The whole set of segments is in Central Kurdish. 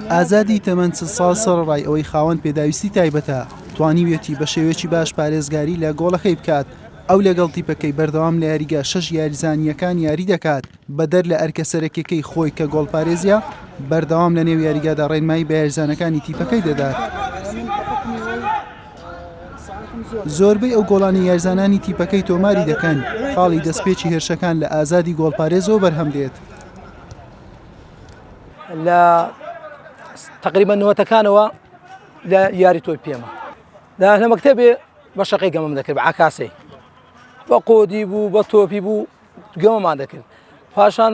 ئازادی تەمەن چل ساڵ سەرەڕای ئەوەی خاوەن پێداویستی تایبەتە توانیویەتی بە شێوەیەکی باش پارێزگاری لە گۆڵەکەی بکات ئەو لەگەڵ تیپەکەی بەردەوام لە یاریگا شەش یاریزانییەکان یاری دەکات بەدەر لە ئەرکە سەرەکیەکەی خۆی کە گۆڵپارێزیە بەردەوام لە نێو یاریگادا ڕێنمایی بە یاریزانەکانی تیپەکەی دەدات. زۆربەی ئەو گۆڵانەی یارزانانی تیپەکەی تۆماری دەکەن، خاڵی دەستپێکی هێرشەکان لە ئازادی گۆڵپارێزەوە بەرهەم دێت. لە تقریبا نوەتەکانەوە لە یاری تۆی پێمە لە لە مەکتتەبێ بە شەقی گەمەم دەکرد بە عکاسی بە قۆدی بوو بە تۆپی بوو گەمەمان دەکرد پاشان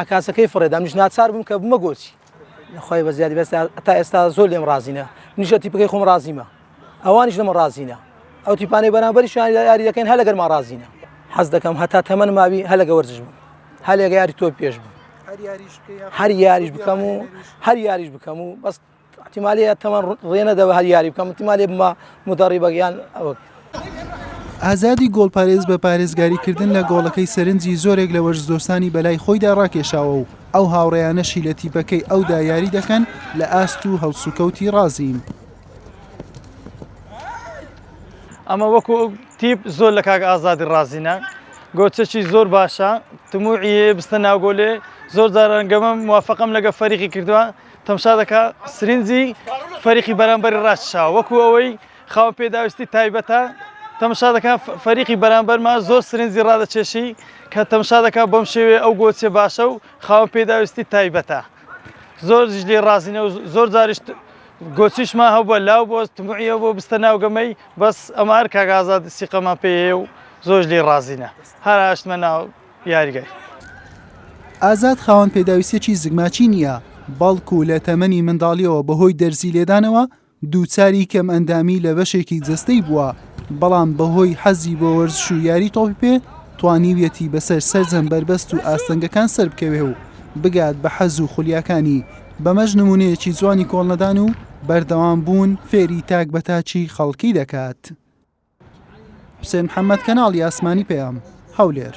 عەکاسەکەی فڕێدا منیش ناچار بووم کە بمە گۆچی خوای بە زیادی بەس تا ئێستا زۆر لێم ڕازینە منیش لە تیپەکەی خۆم ڕازیمە ئەوانیش لەمە ڕازینە ئەو تیپانەی بەرامبەری شویان یاری دەکەین هە لەگەرما ڕازینە حەز دەکەم هەتا تەمەن ماوی هە لەگە وەرزش بوو هە لەگە یاری تۆ پێش بوو هەر یاریش بکەم و هەر یاریش بکەم و بەست ئیحتیمالی تەمەن ڕێ نەدەوە هەر یاری بکەم ئیحتیمالی بمە مدەڕیبەک یان ئەوەک. ئازادی گۆڵپارێز بە پارێزگاریکردن لە گۆڵەکەی سەرنجی زۆرێک لە وەرزدۆستانی بەلای خۆیدا ڕاکێشاوە و ئەو هاوڕێیانەشی لە تیپەکەی ئەودا یاری دەکەن لە ئاست و هەڵسوکەوتی ڕازین. ئەمە وەکو تیپ زۆر لە کاک ئازادی ڕازینە، گۆچەکی زۆر باشە، تموعی هەیە بچتە ناو گۆلێ، زۆر جاران گەمەم موافەقەم لەگە فەریقی کردوە، تەمشا دەکا سرنجی فەریقی بەرامبەری ڕاکشاوە وەکو ئەوەی خاوەن پێداویستی تایبەتە تەمشا دەکا فەریقی بەرامبەرمان زۆر سرنجی ڕادەچێشی کە تەمشا دەکا بەم شێوێ ئەو گۆچێ باشە و خاوەن پێداویستی تایبەتە زۆر لێ ڕازینە و زۆر جاریش گۆچیشمان هەبووە لاو بۆ تمعیە بۆ بستە ناوگەمەی بەس ئەمار کاگازات سیقەمان پێ و زۆر لێ ڕازینە هەر هاشتمە ناو یاریگای. ئازاد خاوەن پێداویستیەکی زگماکی نییە، بەڵکو لە تەمەنی منداڵیەوە بەهۆی دەرزی لێدانەوە دووچاری کەمئەندامی لە بەشێکی جەستەی بووە، بەڵام بەهۆی حەزی بۆ وەرزش و یاری تۆپی پێ توانیویەتی بەسەر سەرجەم بەربەست و ئاستەنگەکان سەربکەوێ و بگات بە حەز و خولیاکانی، بەمەش نمونەیەکی جوانی کۆڵنەدان و بەردەوامبوون فێری تاک بە تاکی خەڵکی دەکات. حوسێن محەمەد کەناڵی ئاسمانی پەیام هەولێر.